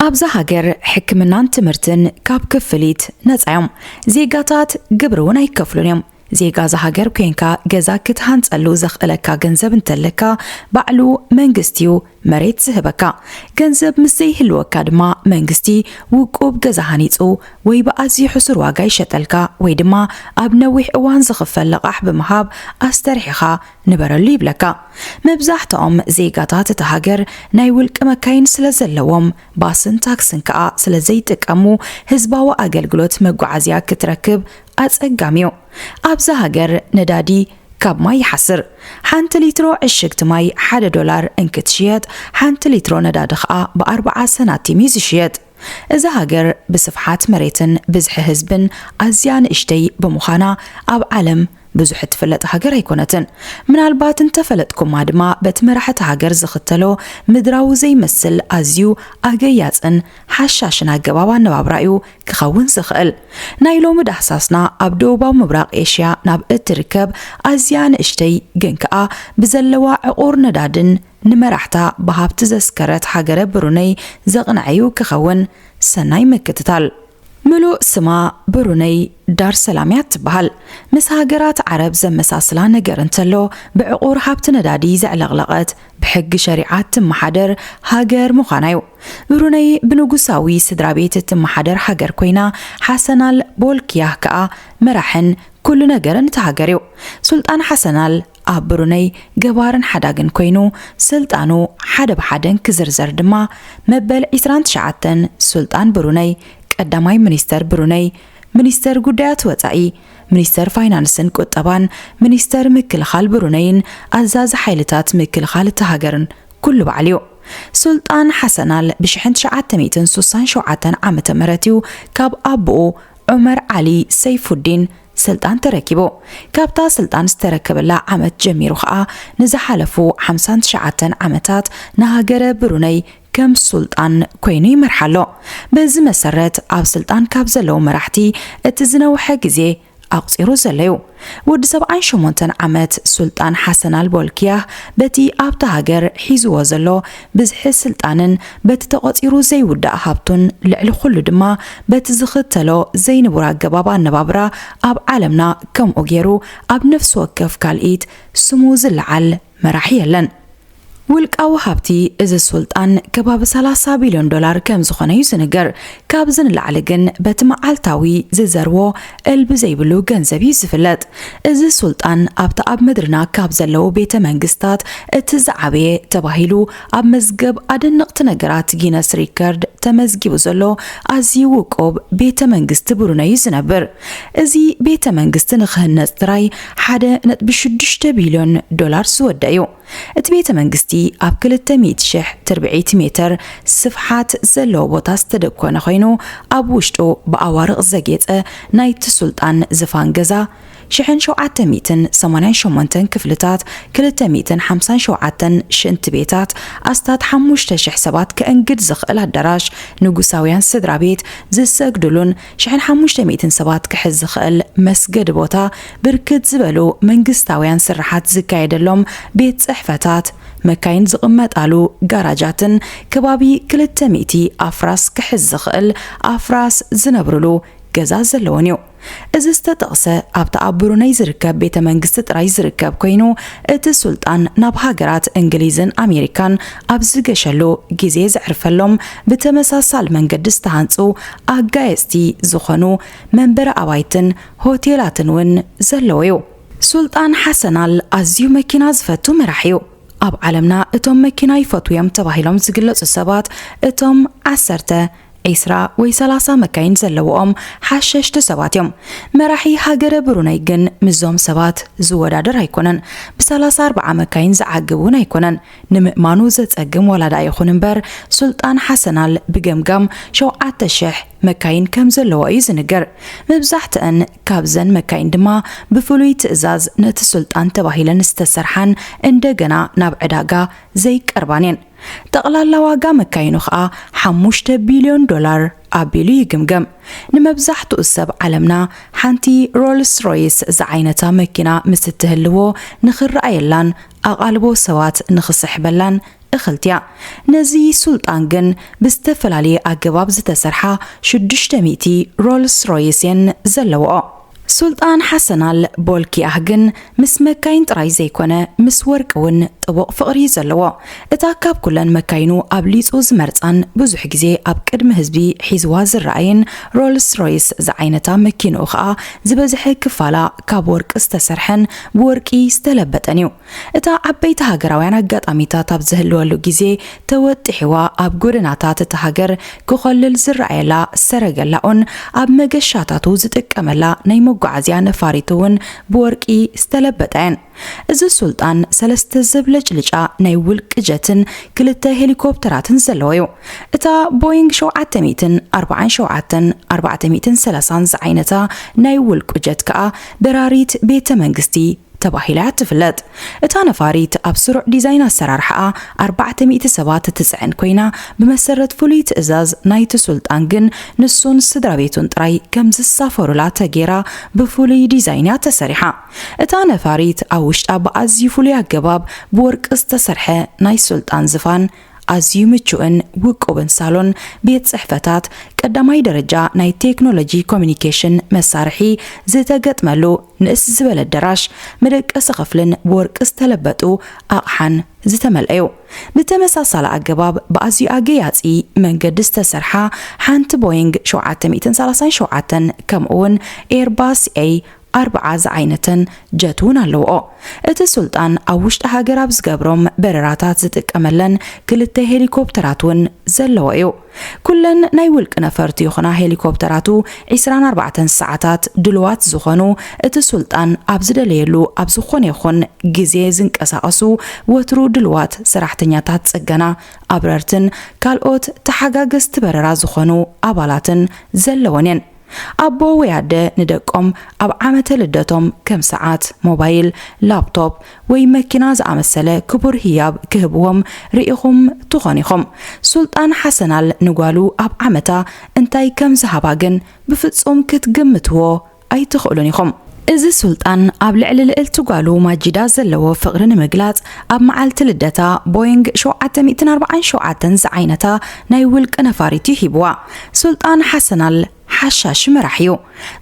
ኣብዛ ሃገር ሕክምናን ትምህርትን ካብ ክፍሊት ነፃ እዮም። ዜጋታት ግብሪ እውን ኣይከፍሉን እዮም። ዜጋ እዛ ሃገር ኮንካ ገዛ ክትሃንፀሉ ዘኽእለካ ገንዘብ እንተለካ ባዕሉ መንግስቲ እዩ መሬት ዝህበካ። ገንዘብ ምስ ዘይህልወካ ድማ መንግስቲ ውቁብ ገዛ ሃኒፁ ወይ ብኣዝዩ ሕሱር ዋጋ ይሸጠልካ ወይ ድማ ኣብ ነዊሕ እዋን ዝኽፈል ልቓሕ ብምሃብ ኣስተርሒኻ ንበረሉ ይብለካ መብዛሕትኦም ዜጋታት እታ ሃገር ናይ ውልቂ መካይን ስለ ዘለዎም ባስን ታክስን ከኣ ስለ ዘይጥቀሙ ህዝባዊ ኣገልግሎት መጓዓዝያ ክትረክብ ኣጸጋሚ'ዩ ኣብዛ ሃገር ነዳዲ ካብ ማይ ይሓስር ሓንቲ ሊትሮ ዕሽግቲ ማይ ሓደ ዶላር እንክትሽየጥ ሓንቲ ሊትሮ ነዳዲ ከኣ ብኣርብዓ ሰናቲም'ዩ ዝሽየጥ እዛ ሃገር ብስፍሓት መሬትን ብዝሒ ህዝብን ኣዝያ ንእሽተይ ብምዃና ኣብ ዓለም ብዙሕ እትፍለጥ ሃገር ኣይኮነትን። ምናልባት እንተፈለጥኩማ ድማ በቲ መራሕቲ ሃገር ዝኽተሎ ምድራዊ ዘይመስል ኣዝዩ ኣገያጽን ሓሻሽን ኣገባብ ኣነባብራ እዩ ክኸውን ዝኽእል። ናይ ሎሚ ዳህሳስና ኣብ ደቡባዊ ምብራቕ ኤሽያ ናብ እትርከብ ኣዝያ ንእሽተይ ግን ከኣ ብዘለዋ ዕቑር ነዳድን ንመራሕታ ብሃብቲ ዘስከረት ሃገረ ብሩነይ ዘቕንዐ'ዩ ክኸውን። ሰናይ ምክትታል። ምሉእ ስማ ብሩነይ ዳር ሰላም'ያ እትበሃል። ምስ ሃገራት ዓረብ ዘመሳስላ ነገር እንተሎ ብዕቑር ሃብቲ ነዳዲ ዘዕለቕለቐት፣ ብሕጊ ሸሪዓ እትመሓደር ሃገር ምዃና'ዩ። ብሩነይ ብንጉሳዊ ስድራቤት እትመሓደር ሃገር ኮይና፣ ሓሰናል ቦልክያህ ከኣ መራሕን ኩሉ ነገርን እታ ሃገር'ዩ። ሱልጣን ሓሰናል ኣብ ብሩነይ ገባርን ሓዳግን ኮይኑ ስልጣኑ ሓደ ብሓደ እንክዝርዘር ድማ መበል ዕስራን ትሽዓተን ሱልጣን ብሩነይ፣ ቀዳማይ ሚኒስተር ብሩነይ፣ ሚኒስተር ጉዳያት ወጻኢ፣ ሚኒስተር ፋይናንስን ቁጠባን፣ ሚኒስተር ምክልኻል ብሩነይን ኣዛዚ ሓይልታት ምክልኻል እታ ሃገርን ኩሉ ባዕሉ'ዩ። ሱልጣን ሓሰናል ብሽሕን ትሽዓተ ሚእትን ሱሳን ሸውዓተን ዓመተ ምህረት'ዩ ካብ ኣቡኡ ዑመር ዓሊ ሰይፉዲን ስልጣን ተረኪቡ። ካብታ ስልጣን ዝተረከበላ ዓመት ጀሚሩ ከኣ ንዝሓለፉ ሓምሳን ትሽዓተን ዓመታት ንሃገረ ብሩነይ ከም ሱልጣን ኮይኑ ይመርሓ ኣሎ። በዚ መሰረት ኣብ ስልጣን ካብ ዘለዉ መራሕቲ እቲ ዝነውሐ ግዜ ኣቑጺሩ ዘሎ'ዩ። ወዲ ሰብዓን ሸሞንተን ዓመት ሱልጣን ሓሰን ኣልቦልክያህ በቲ ኣብታ ሃገር ሒዝዎ ዘሎ ብዝሒ ስልጣንን በቲ ተቖጺሩ ዘይውዳእ ሃብቱን ልዕሊ ኹሉ ድማ በቲ ዝኽተሎ ዘይንቡር ኣገባብ ኣነባብራ ኣብ ዓለምና ከምኡ ጌሩ ኣብ ነፍሲ ወከፍ ካልኢት ስሙ ዝለዓል መራሒ የለን። ውልቃዊ ሃብቲ እዚ ሱልጣን ከባቢ ሰላሳ ቢልዮን ዶላር ከምዝኾነ'ዩ ዝንገር። ካብዚ ንላዕሊ ግን በቲ መዓልታዊ ዝዘርዎ እልቢ ዘይብሉ ገንዘብ እዩ ዝፍለጥ። እዚ ሱልጣን ኣብታ ኣብ ምድርና ካብ ዘለዉ ቤተ መንግስታት እቲ ዝዓበየ ተባሂሉ ኣብ መዝገብ ኣደነቕቲ ነገራት ጊነስ ሪከርድ ተመዝጊቡ ዘሎ ኣዝዩ ውቁብ ቤተ መንግስቲ ብሩነይ እዩ ዝነብር። እዚ ቤተ መንግስቲ ንክህነፅ ጥራይ ሓደ ነጥቢ ሽዱሽተ ቢልዮን ዶላር ዝወደእ እዩ። እቲ ቤተ መንግስቲ ኣብ ክልተ ሚእቲ ሽሕ ትርብዒቲ ሜተር ስፍሓት ዘለዎ ቦታ ዝተደኮነ ኮይኑ ኣብ ውሽጡ ብኣዋርቕ ዘጌፀ ናይቲ ሱልጣን ዝፋን ገዛ ሽሕን ሸውዓተ ሚእትን ሰማንያን ሸሞንተን ክፍልታት ክልተ ሚእትን ሓምሳን ሸውዓተን ሽንቲ ቤታት ኣስታት ሓሙሽተ ሽሕ ሰባት ከእንግድ ዝኽእል ኣዳራሽ ንጉሳውያን ስድራ ቤት ዝሰግድሉን ሽሕን ሓሙሽተ ሚእትን ሰባት ክሕዝ ዝኽእል መስገዲ ቦታ፣ ብርክት ዝበሉ መንግስታውያን ስርሓት ዝካየደሎም ቤት ጽሕፈታት፣ መካይን ዝቕመጣሉ ጋራጃትን ከባቢ ክልተ ሚእቲ ኣፍራስ ክሕዝ ዝኽእል ኣፍራስ ዝነብርሉ ገዛ ዘለዎን እዩ። እዚ ዝተጠቕሰ ኣብቲ ኣብ ብሩነይ ዝርከብ ቤተ መንግስቲ ጥራይ ዝርከብ ኮይኑ፣ እቲ ሱልጣን ናብ ሃገራት እንግሊዝን ኣሜሪካን ኣብ ዝገሸሉ ግዜ ዘዕርፈሎም ብተመሳሳሊ መንገዲ ዝተሃንጹ ኣጋየጽቲ ዝኾኑ መንበሪ ኣባይትን ሆቴላትን እውን ዘለዎ እዩ። ሱልጣን ሓሰን ኣል ኣዝዩ መኪና ዝፈቱ መራሒ እዩ። ኣብ ዓለምና እቶም መኪና ይፈትዉ እዮም ተባሂሎም ዝግለጹ ሰባት እቶም ዓሰርተ፣ ዒስራ ወይ ሰላሳ መካይን ዘለውኦም ሓሸሽቲ ሰባት እዮም። መራሒ ሃገረ ብሩነይ ግን ምስዞም ሰባት ዝወዳደር ኣይኮነን። ብሰላሳ ኣርብዓ መካይን ዝዓግብ እውን ኣይኮነን። ንምእማኑ ዘጸግም ዋላ ድኣ ይኹን እምበር፣ ሱልጣን ሓሰናል ብገምጋም ሸውዓተ ሽሕ መካይን ከም ዘለዋ እዩ ዝንገር። መብዛሕትኣን ካብዘን መካይን ድማ ብፍሉይ ትእዛዝ ነቲ ሱልጣን ተባሂለን ዝተሰርሓን እንደገና ናብ ዕዳጋ ዘይቀርባን እየን። ጠቕላላ ዋጋ መካይኑ ከኣ ሓሙሽተ ቢልዮን ዶላር ኣቢሉ ይግምገም። ንመብዛሕትኡ ሰብ ዓለምና ሓንቲ ሮልስ ሮይስ ዝዓይነታ መኪና ምስ እትህልዎ ንኽረኣየላን ኣቓልቦ ሰባት ንኽስሕበላን እኽልቲ'ያ። ነዚ ሱልጣን ግን ብዝተፈላለየ ኣገባብ ዝተሰርሓ ሽዱሽተ ሚእቲ ሮልስ ሮይስ'የን ዘለዋኦ። ሱልጣን ሓሰን ኣል ቦልኪያህ ግን ምስ መካይን ጥራይ ዘይኮነ ምስ ወርቂ'ውን ጥቡቕ ፍቕሪ'ዩ ዘለዎ። እታ ካብ ኩለን መካይኑ ኣብሊጹ ዝመርጻን ብዙሕ ግዜ ኣብ ቅድሚ ህዝቢ ሒዝዋ ዝረኣይን ሮልስ ሮይስ ዝዓይነታ መኪንኡ ከኣ ዝበዝሐ ክፋላ ካብ ወርቂ ዝተሰርሐን ብወርቂ ዝተለበጠን እዩ። እታ ዓበይቲ ሃገራውያን ኣጋጣሚታት ኣብ ዝህልወሉ ግዜ ተወጢሕዋ ኣብ ጎደናታት እታ ሃገር ክኾልል ዝረኣየላ ሰረገላኡን ኣብ መገሻታቱ ዝጥቀመላ ናይ መጓዓዝያ ነፋሪቱ እውን ብወርቂ ዝተለበጣ እየን። እዚ ሱልጣን ሰለስተ ዘብለጭልጫ ናይ ውልቂ ጀትን ክልተ ሄሊኮፕተራትን ዘለዎ እዩ። እታ ቦይንግ ሸውዓተ ሚእትን ኣርባዓን ሸውዓተን ኣርባዕተ ሚእትን ሰላሳን ዝዓይነታ ናይ ውልቁ ጀት ከኣ በራሪት ቤተ መንግስቲ ተባሂላ እያ እትፍለጥ። እታ ነፋሪት ኣብ ስሩዕ ዲዛይን ኣሰራርሓኣ ኣርባዕተ ሚእቲ ሰባት እትጽዕን ኰይና፣ ብመሰረት ፍሉይ ትእዛዝ ናይቲ ሱልጣን ግን ንሱን ስድራቤቱን ጥራይ ከም ዝሳፈሩላ ተገይራ ብፍሉይ ዲዛይን እያ ተሰሪሓ። እታ ነፋሪት ኣብ ውሽጣ ብኣዝዩ ፍሉይ ኣገባብ ብወርቂ ዝተሰርሐ ናይ ሱልጣን ዝፋን ኣዝዩ ምቹእን ውቁብን ሳሎን ቤት ጽሕፈታት ቀዳማይ ደረጃ ናይ ቴክኖሎጂ ኮሚኒኬሽን መሳርሒ ዝተገጥመሉ ንእስ ዝበለ ኣደራሽ መደቀሲ ክፍልን ብወርቂ ዝተለበጡ ኣቕሓን ዝተመልኣዩ። ብተመሳሳሊ ኣገባብ ብኣዝዩ ኣገያጺ መንገዲ ዝተሰርሓ ሓንቲ ቦይንግ ሸውዓተ ሚእትን ሰላሳን ሸውዓተን ከምኡውን ኤርባስ ኤይ ኣርብዓ ዝዓይነተን ጀት እውን ኣለውኦ። እቲ ሱልጣን ኣብ ውሽጢ ሃገር ኣብ ዝገብሮም በረራታት ዝጥቀመለን ክልተ ሄሊኮፕተራት እውን ዘለዎ እዩ። ኩለን ናይ ውልቂ ነፈርቱ ይኹና ሄሊኮፕተራቱ ዕስራን ኣርባዕተን ሰዓታት ድሉዋት ዝኾኑ እቲ ሱልጣን ኣብ ዝደለየሉ ኣብ ዝኾነ ይኹን ግዜ ዝንቀሳቐሱ ወትሩ ድሉዋት ሰራሕተኛታት ፅገና፣ ኣብረርትን ካልኦት ተሓጋገዝቲ በረራ ዝኾኑ ኣባላትን ዘለወን እየን። ኣቦ ወይ ኣደ ንደቆም ኣብ ዓመተ ልደቶም ከም ሰዓት፣ ሞባይል፣ ላፕቶፕ ወይ መኪና ዝኣመሰለ ክቡር ህያብ ክህብዎም ርኢኹም ትኾኑ ኢኹም። ሱልጣን ሓሰናል ንጓሉ ኣብ ዓመታ እንታይ ከም ዝሃባ ግን ብፍጹም ክትግምትዎ ኣይትኽእሉን ኢኹም። እዚ ሱልጣን ኣብ ልዕሊ ልእልቲ ጓሉ ማጂዳ ዘለዎ ፍቕሪ ንምግላጽ ኣብ መዓልቲ ልደታ ቦይንግ ሸውዓተ ሚእትን ኣርብዓን ሸውዓተን ዝዓይነታ ናይ ውልቂ ነፋሪት'ዩ ሂብዋ። ሱልጣን ሓሰን ኣል ሓሻሺ መራሒ'ዩ።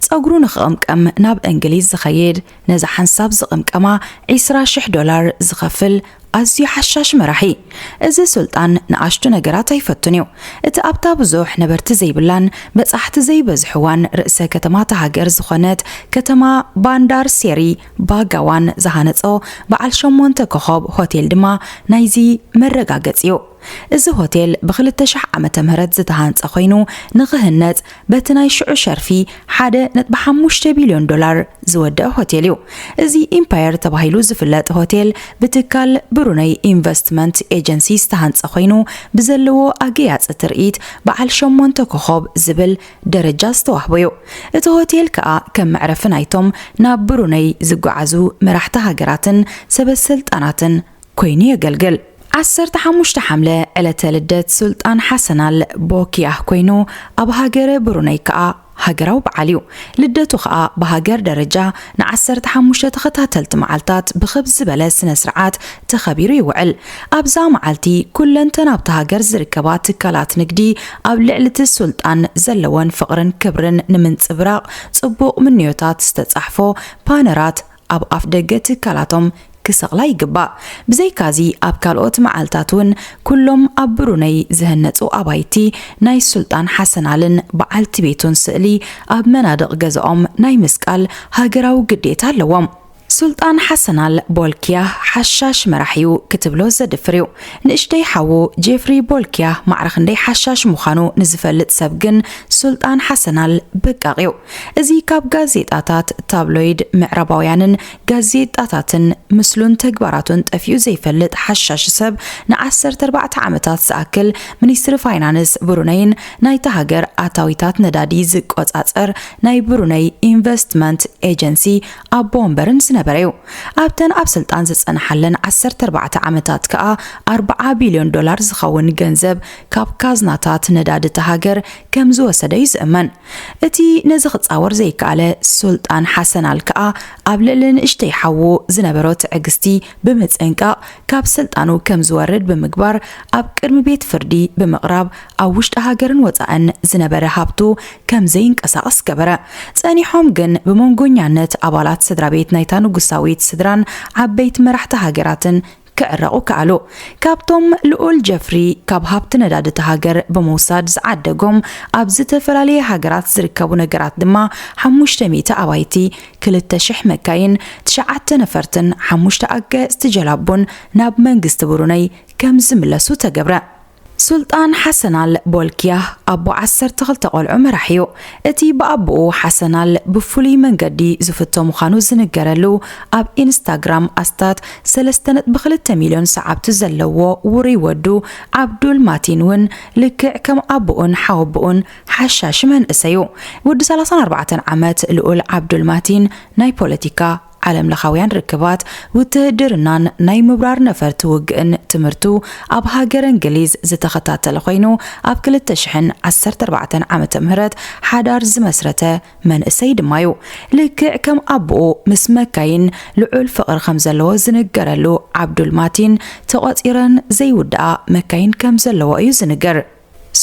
ጸጉሩ ንኽቕምቀም ናብ እንግሊዝ ዝኸይድ፣ ነዛ ሓንሳብ ዝቕምቀማ ዒስራ ሽሕ ዶላር ዝኸፍል ኣዝዩ ሓሻሽ መራሒ። እዚ ሱልጣን ንኣሽቱ ነገራት ኣይፈቱን እዩ። እቲ ኣብታ ብዙሕ ነበርቲ ዘይብላን በጻሕቲ ዘይበዝሕዋን ርእሰ ከተማ እታ ሃገር ዝኾነት ከተማ ባንዳር ሴሪ ባጋዋን ዝሃነጾ በዓል ሸሞንተ ኮኾብ ሆቴል ድማ ናይዚ መረጋገጺ እዩ። እዚ ሆቴል ብክልተ ሽሕ ዓመተ ምህረት ዝተሃንጸ ኮይኑ ንክህነጽ በቲ ናይ ሽዑ ሸርፊ ሓደ ነጥቢ ሓሙሽተ ቢልዮን ዶላር ዝወደእ ሆቴል እዩ። እዚ ኢምፓየር ተባሂሉ ዝፍለጥ ሆቴል ብትካል ብሩነይ ኢንቨስትመንት ኤጀንሲ ዝተሃንጸ ኮይኑ ብዘለዎ ኣገያጺ ትርኢት በዓል ሸሞንተ ኮኾብ ዝብል ደረጃ ዝተዋህቦ እዩ። እቲ ሆቴል ከኣ ከም መዕረፊ ናይቶም ናብ ብሩነይ ዝጓዓዙ መራሕቲ ሃገራትን ሰበስልጣናትን ኮይኑ የገልግል። ዓሰርተ ሓሙሽተ ሓምለ ዕለተ ልደት ሱልጣን ሓሰን ኣል ቦኪያህ ኮይኑ ኣብ ሃገረ ብሩነይ ከኣ ሃገራዊ በዓል እዩ። ልደቱ ከኣ ብሃገር ደረጃ ንዓሰርተ ሓሙሽተ ተኸታተልቲ መዓልታት ብኽብ ዝበለ ስነ ስርዓት ተኸቢሩ ይውዕል። ኣብዛ መዓልቲ ኩለንተን ኣብታ ሃገር ዝርከባ ትካላት ንግዲ ኣብ ልዕሊቲ ሱልጣን ዘለወን ፍቕርን ክብርን ንምንጽብራቕ ጽቡቕ ምንዮታት ዝተጻሕፎ ፓነራት ኣብ ኣፍደገ ትካላቶም ክሰቕላ ይግባእ። ብዘይካዚ ኣብ ካልኦት መዓልታት እውን ኩሎም ኣብ ብሩነይ ዝህነጹ ኣባይቲ ናይ ሱልጣን ሓሰናልን በዓልቲ ቤቱን ስእሊ ኣብ መናድቕ ገዛኦም ናይ ምስቃል ሃገራዊ ግዴታ ኣለዎም። ሱልጣን ሓሰናል ቦልኪያህ ሓሻሽ መራሒ'ዩ ክትብሎ ዘድፍር'ዩ። ንእሽተይ ሓዉ ጄፍሪ ቦልኪያህ ማዕረ ክንደይ ሓሻሽ ምዃኑ ንዝፈልጥ ሰብ ግን ሱልጣን ሓሰናል በቃቕ'ዩ። እዚ ካብ ጋዜጣታት፣ ታብሎይድ ምዕራባውያንን ጋዜጣታትን ምስሉን ተግባራቱን ጠፊኡ ዘይፈልጥ ሓሻሺ ሰብ ንዓሰርተ ኣርባዕተ ዓመታት ዝኣክል ሚኒስትሪ ፋይናንስ ብሩነይን ናይታ ሃገር ኣታዊታት ነዳዲ ዝቆጻጸር ናይ ብሩነይ ኢንቨስትመንት ኤጀንሲ ኣቦ ወንበርን ዝነበረ'ዩ። ኣብተን ኣብ ስልጣን ዝጸንሓለን ዓሰርተ ኣርባዕተ ዓመታት ከኣ ኣርብዓ ቢልዮን ዶላር ዝኸውን ገንዘብ ካብ ካዝናታት ነዳዲ እታ ሃገር ከምዝወሰደ'ዩ ዝእመን። እቲ ነዚ ክጻወር ዘይከኣለ ሱልጣን ሓሰን ኣል ከኣ ኣብ ልዕሊ ንእሽተይ ሓዉ ዝነበሮ ትዕግስቲ ብምጽንቃቕ ካብ ስልጣኑ ከም ዝወርድ ብምግባር ኣብ ቅድሚ ቤት ፍርዲ ብምቕራብ ኣብ ውሽጢ ሃገርን ወጻእን ዝነበረ ሃብቱ ከም ዘይንቀሳቐስ ገበረ። ጸኒሖም ግን ብመንጎኛነት ኣባላት ስድራ ቤት ናይታ ንጉሳዊት ስድራን ዓበይቲ መራሕቲ ሃገራትን ክዕረቑ ከኣሉ። ካብቶም ልኡል ጀፍሪ ካብ ሃብቲ ነዳዲ እታ ሃገር ብምውሳድ ዝዓደጎም ኣብ ዝተፈላለየ ሃገራት ዝርከቡ ነገራት ድማ ሓሙሽተ ሚእቲ ኣባይቲ፣ ክልተ ሽሕ መካይን፣ ትሽዓተ ነፈርትን ሓሙሽተ ኣጋየጽቲ ጀላቡን ናብ መንግስቲ ብሩነይ ከምዝምለሱ ተገብረ። ሱልጣን ሓሰን ኣል ቦልኪያህ ኣቦ ዓሰርተ ክልተ ቆልዑ መራሒ እዩ። እቲ ብኣቦኡ ሓሰን ኣል ብፍሉይ መንገዲ ዝፍቶ ምዃኑ ዝንገረሉ ኣብ ኢንስታግራም ኣስታት ሰለስተ ነጥቢ ክልተ ሚልዮን ሰዓብቲ ዘለዎ ውሩይ ወዱ ዓብዱል ማቲን እውን ልክዕ ከም ኣቦኡን ሓወቦኡን ሓሻሺ መንእሰይ እዩ። ወዲ ሰላሳን ኣርባዕተን ዓመት ልኡል ዓብዱል ማቲን ናይ ፖለቲካ ዓለምለኻውያን ርክባት፣ ውትህድርናን ናይ ምብራር ነፈርቲ ውግእን ትምህርቱ ኣብ ሃገረ እንግሊዝ ዝተኸታተለ ኮይኑ ኣብ ክልተ ሽሕን ዓሰርተ ኣርባዕተን ዓመተ ምህረት ሓዳር ዝመስረተ መንእሰይ ድማ'ዩ። ልክዕ ከም ኣቡኡ ምስ መካይን ልዑል ፍቕሪ ከምዘለዎ ዝንገረሉ ዓብዱል ማቲን ተቖጺረን ዘይውድኣ መካይን ከምዘለዎ እዩ ዝንገር።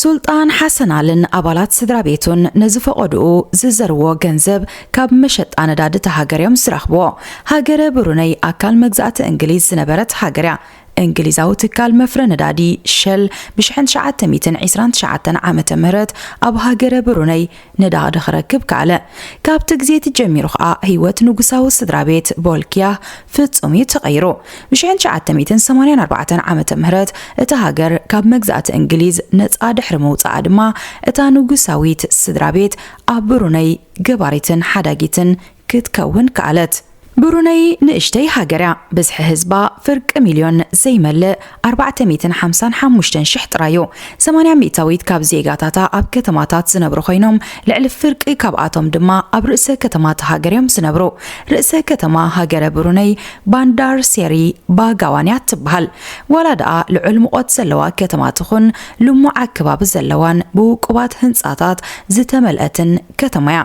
ሱልጣን ሓሰን ኣልን ኣባላት ስድራቤቱን ነዚ ፈቖድኡ ዝዘርዎ ገንዘብ ካብ መሸጣ ነዳዲ እታ ሃገር እዮም ዝረኽብዎ። ሃገረ ብሩነይ ኣካል መግዛእቲ እንግሊዝ ዝነበረት ሃገር እያ። እንግሊዛዊ ትካል መፍረ ነዳዲ ሸል ብሽሕን ትሽዓተ ሚእትን ዒስራን ትሽዓተን ዓመተ ምህረት ኣብ ሃገረ ብሩነይ ነዳቕዲ ክረክብ ከኣለ። ካብቲ ግዜ እቲ ጀሚሩ ከኣ ህይወት ንጉሳዊ ስድራ ቤት ቦልኪያህ ፍጹም እዩ ተቐይሩ። ብሽሕን ትሽዓተ ሚእትን ሰማንያን ኣርባዕተን ዓመተ ምህረት እታ ሃገር ካብ መግዛእቲ እንግሊዝ ነጻ ድሕሪ ምውጽኣ ድማ እታ ንጉሳዊት ስድራ ቤት ኣብ ብሩነይ ገባሪትን ሓዳጊትን ክትከውን ከኣለት። ብሩነይ ንእሽተይ ሃገር እያ፣ ብዝሒ ህዝባ ፍርቂ ሚልዮን ዘይመልእ ኣርባዕተ ሚእትን ሓምሳን ሓሙሽተን ሽሕ ጥራይ እዩ። ሰማንያ ሚእታዊት ካብ ዜጋታታ ኣብ ከተማታት ዝነብሩ ኮይኖም፣ ልዕሊ ፍርቂ ካብኣቶም ድማ ኣብ ርእሰ ከተማ እታ ሃገር እዮም ዝነብሩ። ርእሰ ከተማ ሃገረ ብሩነይ ባንዳር ሴሪ ባጋዋን እያ እትበሃል። ዋላ ደኣ ልዑል ሙቖት ዘለዋ ከተማ ትኹን፣ ልሙዕ ኣከባቢ ዘለዋን ብውቁባት ህንጻታት ዝተመልአትን፣ ከተማ'ያ።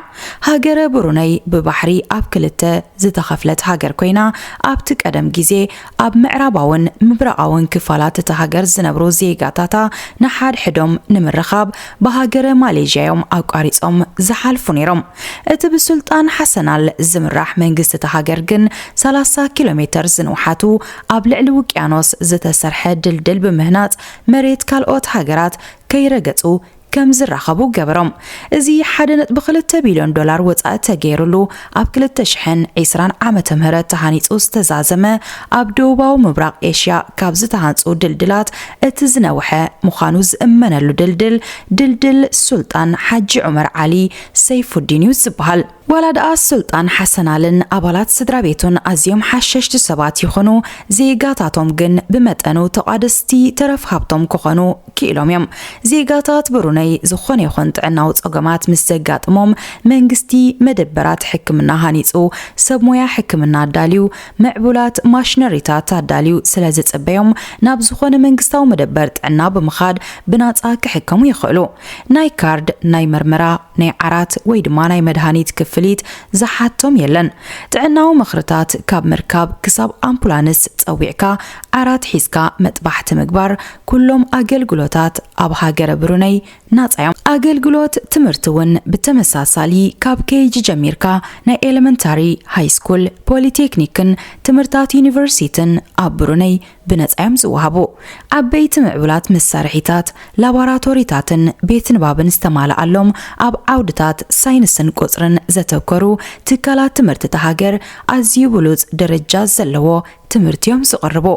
ሃገረ ብሩነይ ብባሕሪ ኣብ ክልተ ዝተኸፍለት ሃገር ኮይና፣ ኣብቲ ቀደም ግዜ ኣብ ምዕራባውን ምብራቓውን ክፋላት እታ ሃገር ዝነብሩ ዜጋታታ ንሓድሕዶም ንምርኻብ ብሃገረ ማሌዥያ'ዮም ኣቋሪጾም ዝሓልፉ ነይሮም። እቲ ብሱልጣን ሓሰናል ዝምራሕ መንግስቲ እታ ሃገር ግን ሰላሳ ኪሎሜተር ዝንውሓቱ ኣብ ልዕሊ ውቅያኖስ ዝተሰርሐ ድልድል ብምህናጽ መሬት ካልኦት ሃገራት ከይረገጹ ከም ዝራኸቡ ገበሮም። እዚ ሓደ ነጥቢ ክልተ ቢልዮን ዶላር ወጻኢ ተገይሩሉ ኣብ ክልተ ሽሕን ዕስራን ዓመተ ምህረት ተሃኒጹ ዝተዛዘመ ኣብ ደቡባዊ ምብራቕ ኤሽያ ካብ ዝተሃንጹ ድልድላት እቲ ዝነውሐ ምዃኑ ዝእመነሉ ድልድል ድልድል ሱልጣን ሓጂ ዑመር ዓሊ ሰይፉዲን'ዩ ዝበሃል። ዋላ ድኣ ሱልጣን ሓሰን ኣልን ኣባላት ስድራቤቱን ኣዝዮም ሓሸሽቲ ሰባት ይኹኑ፣ ዜጋታቶም ግን ብመጠኑ ተቛደስቲ ተረፍ ሃብቶም ክኾኑ ክኢሎም እዮም። ዜጋታት ብሩነይ ዝኾነ ይኹን ጥዕናዊ ጸገማት ምስ ዘጋጥሞም፣ መንግስቲ መደበራት ሕክምና ሃኒጹ፣ ሰብ ሞያ ሕክምና ኣዳልዩ፣ ምዕቡላት ማሽነሪታት ኣዳልዩ ስለ ዝጽበዮም፣ ናብ ዝኾነ መንግስታዊ መደበር ጥዕና ብምኻድ ብናጻ ክሕከሙ ይኽእሉ። ናይ ካርድ፣ ናይ መርመራ፣ ናይ ዓራት ወይ ድማ ናይ መድሃኒት ክፍሊት ዝሓቶም የለን። ጥዕናዊ ምኽርታት ካብ ምርካብ ክሳብ ኣምፑላንስ ጸዊዕካ ዓራት ሒዝካ መጥባሕቲ ምግባር ኩሎም ኣገልግሎታት ኣብ ሃገረ ብሩነይ ናጻ እዮም። ኣገልግሎት ትምህርቲ እውን ብተመሳሳሊ ካብ ኬይጂ ጀሚርካ ናይ ኤለመንታሪ፣ ሃይስኩል፣ ፖሊቴክኒክን ትምህርታት ዩኒቨርሲትን ኣብ ብሩነይ ብነጻ እዮም ዝወሃቡ። ዓበይቲ ምዕቡላት መሳርሒታት፣ ላቦራቶሪታትን ቤት ንባብን ዝተማልኣሎም፣ ኣብ ዓውድታት ሳይንስን ቁጽርን ዘተኮሩ ትካላት ትምህርቲ እታ ሃገር ኣዝዩ ብሉጽ ደረጃ ዘለዎ ትምህርቲ እዮም ዝቕርቡ።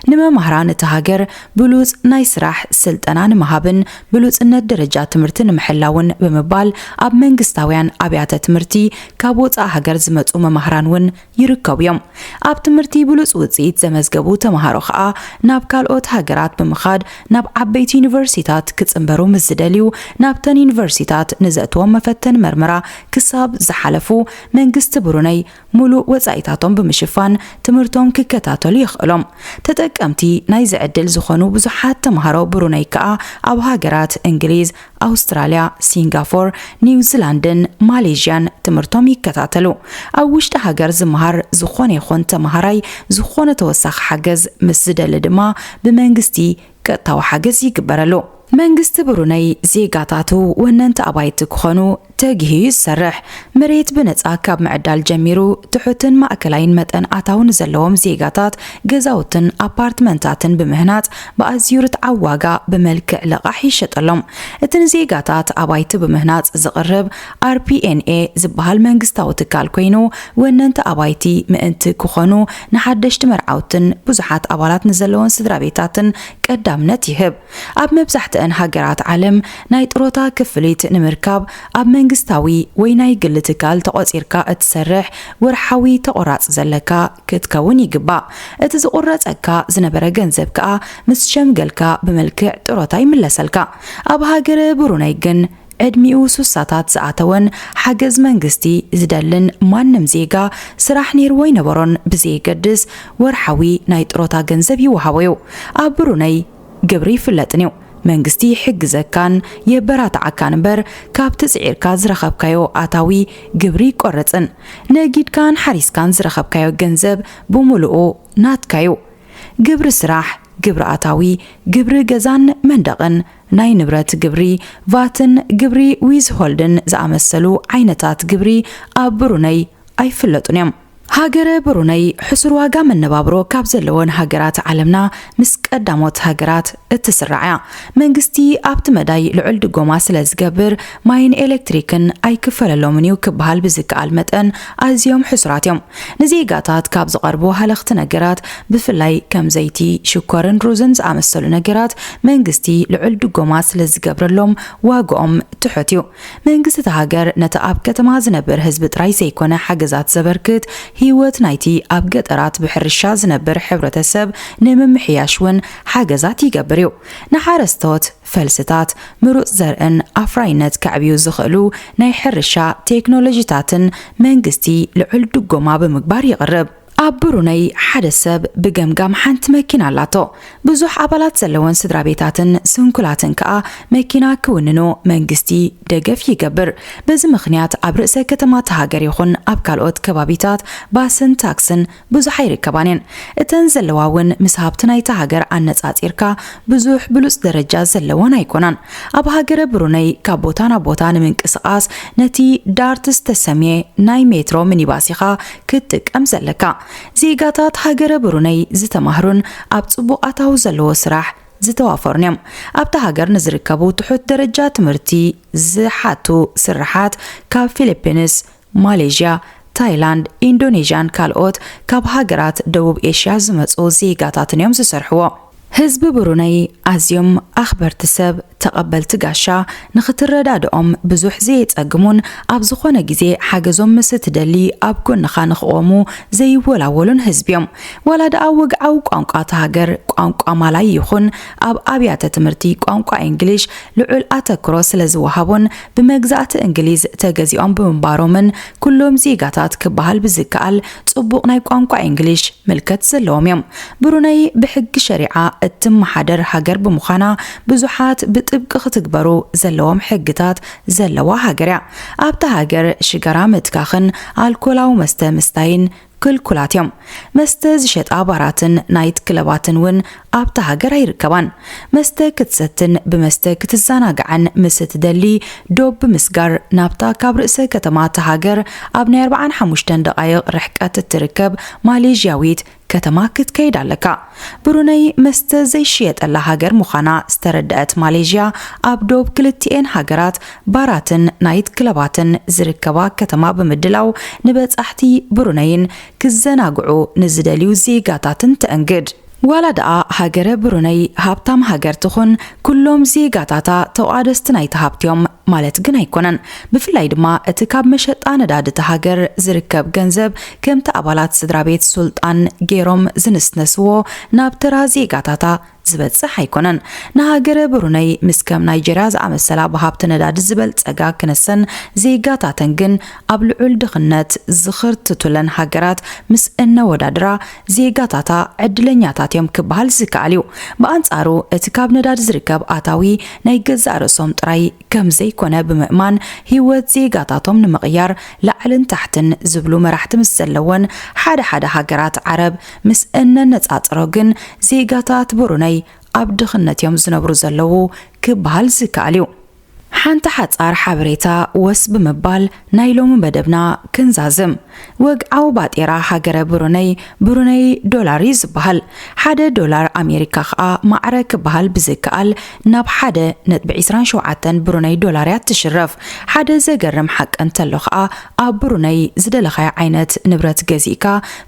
ንመማህራን እታ ሃገር ብሉጽ ናይ ስራሕ ስልጠና ንምሃብን ብሉጽነት ደረጃ ትምህርቲ ንምሕላውን ብምባል ኣብ መንግስታውያን ኣብያተ ትምህርቲ ካብ ወጻእ ሃገር ዝመጹ መማህራን እውን ይርከቡ እዮም። ኣብ ትምህርቲ ብሉፅ ውፅኢት ዘመዝገቡ ተምሃሮ ከዓ ናብ ካልኦት ሃገራት ብምኻድ ናብ ዓበይቲ ዩኒቨርሲቲታት ክፅምበሩ ምስ ዝደልዩ ናብተን ዩኒቨርሲቲታት ንዘእትዎም መፈተኒ መርመራ ክሳብ ዝሓለፉ መንግስቲ ብሩነይ ሙሉእ ወፃኢታቶም ብምሽፋን ትምህርቶም ክከታተሉ የኽእሎም። ተጠቀምቲ ናይዚ ዕድል ዝኾኑ ብዙሓት ተምሃሮ ብሩነይ ከዓ ኣብ ሃገራት እንግሊዝ፣ ኣውስትራልያ፣ ሲንጋፎር፣ ኒውዚላንድን ማሌዥያን ትምህርቶም ይከታተሉ። ኣብ ውሽጢ ሃገር ዝመሃር ዝኾነ ይኹን ተመሃራይ ዝኾነ ተወሳኺ ሓገዝ ምስ ዝደሊ ድማ ብመንግስቲ ቀጥታዊ ሓገዝ ይግበረሉ። መንግስቲ ብሩነይ ዜጋታቱ ወነንቲ ኣባይቲ ክኾኑ ተጊሁ እዩ ዝሰርሕ። መሬት ብነፃ ካብ ምዕዳል ጀሚሩ ትሑትን ማእከላይን መጠን ኣታዊ ንዘለዎም ዜጋታት ገዛውትን ኣፓርትመንታትን ብምህናፅ ብኣዝዩ ርትዓዊ ዋጋ ብመልክዕ ልቓሕ ይሸጠሎም። እቲ ንዜጋታት ኣባይቲ ብምህናፅ ዝቕርብ RPNA ዝበሃል መንግስታዊ ትካል ኮይኑ ወነንቲ ኣባይቲ ምእንቲ ክኾኑ ንሓደሽቲ መርዓውትን ብዙሓት ኣባላት ንዘለወን ስድራቤታትን ቀዳምነት ይህብ። ኣብ መብዛሕትኣን ሃገራት ዓለም ናይ ጥሮታ ክፍሊት ንምርካብ ኣብ መንግስታዊ ወይ ናይ ግሊ ትካል ተቖጺርካ እትሰርሕ ወርሓዊ ተቖራጺ ዘለካ ክትከውን ይግባእ። እቲ ዝቑረጸካ ዝነበረ ገንዘብ ከኣ ምስ ሸምገልካ ብመልክዕ ጥሮታ ይምለሰልካ። ኣብ ሃገረ ብሩነይ ግን ዕድሚኡ ሱሳታት ዝኣተወን ሓገዝ መንግስቲ ዝደልን ማንም ዜጋ ስራሕ ነይርዎ ኣይነበሮን ብዘየገድስ ወርሓዊ ናይ ጥሮታ ገንዘብ ይወሃቦ'ዩ። ኣብ ብሩነይ ግብሪ ይፍለጥን'ዩ። መንግስቲ ይሕግዘካን የበራትዓካን እምበር ካብቲ ጽዒርካ ዝረኸብካዮ ኣታዊ ግብሪ ይቆረጽን ነጊድካን ሓሪስካን ዝረኸብካዮ ገንዘብ ብሙሉኡ ናትካ'ዩ። ግብሪ ስራሕ፣ ግብሪ ኣታዊ፣ ግብሪ ገዛን መንደቕን፣ ናይ ንብረት ግብሪ፣ ቫትን ግብሪ ዊዝሆልድን ዝኣመሰሉ ዓይነታት ግብሪ ኣብ ብሩነይ ኣይፍለጡን እዮም። ሃገረ ብሩነይ ሕሱር ዋጋ መነባብሮ ካብ ዘለወን ሃገራት ዓለምና ምስ ቀዳሞት ሃገራት እትስራዕ እያ። መንግስቲ ኣብቲ መዳይ ልዑል ድጎማ ስለ ዝገብር ማይን ኤለክትሪክን ኣይክፈለሎምን እዩ ክበሃል ብዝከኣል መጠን ኣዝዮም ሕሱራት እዮም። ንዜጋታት ካብ ዝቐርቡ ሃለኽቲ ነገራት ብፍላይ ከም ዘይቲ፣ ሽኮርን ሩዝን ዝኣመሰሉ ነገራት መንግስቲ ልዑል ድጎማ ስለዝገብረሎም ዋግኦም ትሑት እዩ። መንግስቲ እታ ሃገር ነቲ ኣብ ከተማ ዝነብር ህዝቢ ጥራይ ዘይኮነ ሓገዛት ዘበርክት፣ ህይወት ናይቲ ኣብ ገጠራት ብሕርሻ ዝነብር ሕብረተሰብ ንምምሕያሽ እውን ሓገዛት ይገብር እዩ። ንሓረስቶት። ፈልስታት፣ ምሩፅ ዘርእን ኣፍራይነት ከዕብዩ ዝኽእሉ ናይ ሕርሻ ቴክኖሎጂታትን መንግስቲ ልዑል ድጎማ ብምግባር ይቕርብ። ኣብ ብሩነይ ሓደ ሰብ ብገምጋም ሓንቲ መኪና ኣላቶ። ብዙሕ ኣባላት ዘለወን ስድራቤታትን ስንኩላትን ከኣ መኪና ክውንኑ መንግስቲ ደገፍ ይገብር። በዚ ምኽንያት ኣብ ርእሰ ከተማ እታ ሃገር ይኹን ኣብ ካልኦት ከባቢታት ባስን ታክስን ብዙሕ ኣይርከባን እየን እተን ዘለዋ ውን ምስ ሃብቲ ናይታ ሃገር ኣነጻጺርካ ብዙሕ ብሉጽ ደረጃ ዘለወን ኣይኮናን ኣብ ሃገረ ብሩነይ ካብ ቦታ ናብ ቦታ ንምንቅስቃስ ነቲ ዳርት ዝተሰምየ ናይ ሜትሮ ሚኒባስ ኢኻ ክትጥቀም ዘለካ ዜጋታት ሃገረ ብሩነይ ዝተማህሩን ኣብ ጽቡቅ ኣታዊ ዘለዎ ስራሕ ዝተዋፈሩን እዮም ኣብታ ሃገር ንዝርከቡ ትሑት ደረጃ ትምህርቲ ዝሓቱ ስርሓት ካብ ፊሊፒንስ ማሌዥያ፣ ታይላንድ፣ ኢንዶኔዥያን ካልኦት ካብ ሃገራት ደቡብ ኤሽያ ዝመጹ ዜጋታትን'ዮም ዝሰርሕዎ። ህዝቢ ብሩነይ ኣዝዮም ኣኽበርቲ ሰብ፣ ተቐበልቲ ጋሻ፣ ንኽትረዳድኦም ብዙሕ ዘየጸግሙን ኣብ ዝኾነ ግዜ ሓገዞም ምስ እትደሊ ኣብ ጎንኻ ንኽቖሙ ዘይወላወሉን ህዝቢ'ዮም። ዋላ ደኣ ወግዓዊ ቋንቋ እታ ሃገር ቋንቋ ማላይ ይኹን ኣብ ኣብያተ ትምህርቲ ቋንቋ ኢንግሊሽ ልዑል ኣተክሮ ስለዝወሃቦን ብመግዛእቲ እንግሊዝ ተገዚኦም ብምንባሮምን ኩሎም ዜጋታት ክበሃል ብዝከኣል ጽቡቕ ናይ ቋንቋ ኢንግሊሽ ምልከት ዘለዎም እዮም። ብሩነይ ብሕጊ ሸሪዓ እትመሓደር ሃገር ብምዃና ብዙሓት ብጥብቂ ክትግበሩ ዘለዎም ሕግታት ዘለዋ ሃገር እያ። ኣብታ ሃገር ሽጋራ ምትካኽን ኣልኮላዊ መስተ ምስታይን ክልኩላት እዮም። መስተ ዝሸጣ ባራትን ናይት ክለባትን ውን ኣብታ ሃገር ኣይርከባን። መስተ ክትሰትን ብመስተ ክትዘናጋዕን ምስ እትደሊ ዶብ ብምስጋር ናብታ ካብ ርእሰ ከተማ እታ ሃገር ኣብ ናይ ኣርብዓን ሓሙሽተን ደቓይቕ ርሕቀት እትርከብ ማሌዥያዊት ከተማ ክትከይድ ኣለካ። ብሩነይ መስተ ዘይሽየጠላ ሃገር ምዃና ዝተረደኣት ማሌዥያ፣ ኣብ ዶብ ክልቲኤን ሃገራት ባራትን ናይት ክለባትን ዝርከባ ከተማ ብምድላው ንበጻሕቲ ብሩነይን ክዘናግዑ ንዝደልዩ ዜጋታትን ተእንግድ። ዋላ ደኣ ሃገረ ብሩነይ ሃብታም ሃገር ትኹን፣ ኩሎም ዜጋታታ ተቋደስቲ ናይቲ ሃብቲ'ዮም ማለት ግን ኣይኮነን። ብፍላይ ድማ እቲ ካብ መሸጣ ነዳዲ እታ ሃገር ዝርከብ ገንዘብ ከምቲ ኣባላት ስድራቤት ሱልጣን ገይሮም ዝንስነስዎ ናብ ተራ ዜጋታታ ዝበጽሕ ኣይኮነን። ንሃገረ ብሩነይ ምስ ከም ናይጀርያ ዝኣመሰላ ብሃብቲ ነዳዲ ዝበልጸጋ ክነሰን ዜጋታተን ግን ኣብ ልዑል ድኽነት ዝኽርትቱለን ሃገራት ምስ እነወዳድራ ዜጋታታ ዕድለኛታት እዮም ክበሃል ዝከኣል እዩ። ብኣንጻሩ እቲ ካብ ነዳዲ ዝርከብ ኣታዊ ናይ ገዛእ ርእሶም ጥራይ ከም ዘይኮነ ብምእማን ህይወት ዜጋታቶም ንምቕያር ላዕልን ታሕትን ዝብሉ መራሕቲ ምስ ዘለወን ሓደ ሓደ ሃገራት ዓረብ ምስ እነነጻጽሮ ግን ዜጋታት ብሩነይ ኣብ ድኽነት እዮም ዝነብሩ ዘለዉ ክበሃል ዝከኣል እዩ። ሓንቲ ሓጻር ሓበሬታ ወስ ብምባል፣ ናይ ሎሚ መደብና ክንዛዝም ወግዓዊ ባጤራ ሃገረ ብሩነይ፣ ብሩነይ ዶላር፣ እዩ ዝበሃል። ሓደ ዶላር ኣሜሪካ ከኣ ማዕረ ክበሃል ብዝከኣል ናብ ሓደ ነጥቢ ዕስራን ሸውዓተን ብሩነይ ዶላር እያ እትሽረፍ። ሓደ ዘገርም ሓቂ እንተሎ ከኣ ኣብ ብሩነይ ዝደለኻዮ ዓይነት ንብረት ገዚእካ፣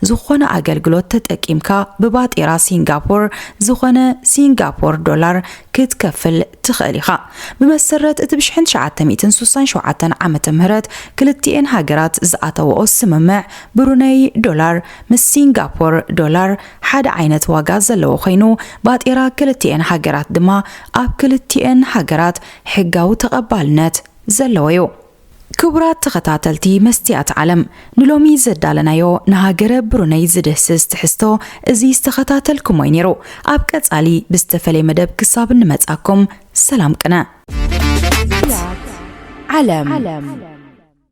ዝኾነ ኣገልግሎት ተጠቂምካ ብባጤራ ሲንጋፖር ዝኾነ ሲንጋፖር ዶላር ክትከፍል ትኽእል ኢኻ። ብመሰረት እቲ ብ ሽሕን ትሽዓተ ሚእትን ስሳን ሸውዓተን ዓመተ ምህረት ክልቲኤን ሃገራት ዝኣተወኦ ስምምዕ፣ ብሩነይ ዶላር ምስ ሲንጋፖር ዶላር ሓደ ዓይነት ዋጋ ዘለዎ ኮይኑ፣ ባጤራ ክልቲኤን ሃገራት ድማ ኣብ ክልቲኤን ሃገራት ሕጋዊ ተቐባልነት ዘለዎ'ዩ። ክቡራት ተኸታተልቲ መስትያት ዓለም ንሎሚ ዘዳለናዮ ንሃገረ ብሩነይ ዝድህስስ ትሕዝቶ እዚ ዝተኸታተልኩሞ'ዩ ኔሩ። ኣብ ቀጻሊ ብዝተፈልየ መደብ ክሳብ እንመጻኩም ሰላም ቅነ። መስትያት ዓለም።